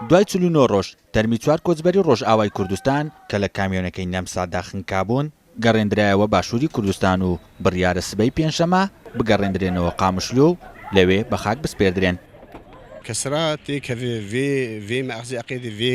دوای چل و نۆ ڕۆژ، تەرمی چوار کۆچبەری ڕۆژئاوای کوردستان کە لە کامیۆنەکەی نەمسادا خنکابوون، گەڕێندرایەوە باشووری کوردستان و بڕیارە سبەی پێنجشەممە بگەڕێندرێنەوە قامشلۆ و لەوێ بە خاک بسپێردرێن. کسرا تێ کەێ ڤێ، ڤێ مەئخزێ ئەقێدێ ڤێ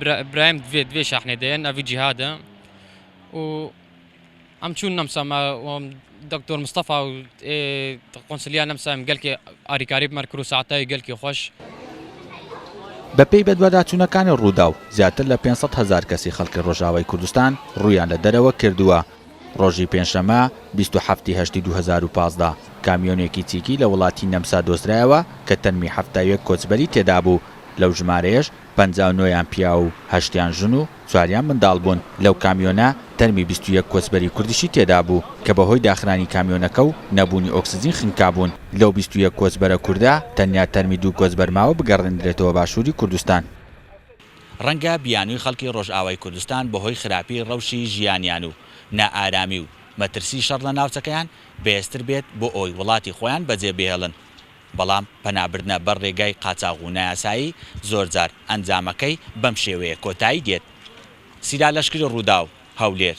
برا برایم دوێ دوێ شاحنێ دەێن ئەڤی جیهادە و ئەم چوون نەمسەمە وەم دکتۆر مستەفا و ئێ قۆنسلیا نەمسایم گەلکێ ئاریکاری بمەر کرو ساعتای گەلکی خۆش. بەپێی بەدواداچوونەکانی رووداو، زیاتر لە پێنج سەد هەزار کەسی خەڵکی رۆژئاوای کوردستان روویان لە دەرەوە کردووە. رۆژی پێنجشەممە بیست و حەفت ی هەشتی دوو هەزار و پازدە، کامیۆنێکی چیکی لە وڵاتی نەمسا دۆزرایەوە کە تەنمی حەفتا و یەک کۆچبەری تێدابوو، لەو ژمارەیەش پەنجا و نۆ یان پیاو و هەشتیان ژن و چواریان منداڵ بوون، لەو کامیۆنە تەرمی بیست و یەک کۆچبەری کوردیشی تێدا بوو کە بەهۆی داخرانی کامیۆنەکە و نەبوونی ئۆکسجین خنکابوون، لەو بیست و یەک کۆچبەرە کوردە تەنیا تەرمی دوو کۆچبەر ماوە بگەڕێندرێتەوە باشووری کوردستان. ڕەنگە بیانووی خەڵکی ڕۆژئاوای کوردستان بەهۆی خراپی ڕەوشی ژیانیان و نائارامی و مەترسی شەڕ لە ناوچەکەیان بەهێزتر بێت بۆ ئەوەی وڵاتی خۆیان بەجێبهێڵن، بەڵام پەنابردنە بەر رێگای قاچاغ و نایاسایی زۆرجار ئەنجامەکەی بەم شێوەیە کۆتایی دێت، سیلا لەشکری رووداو، هەولێر.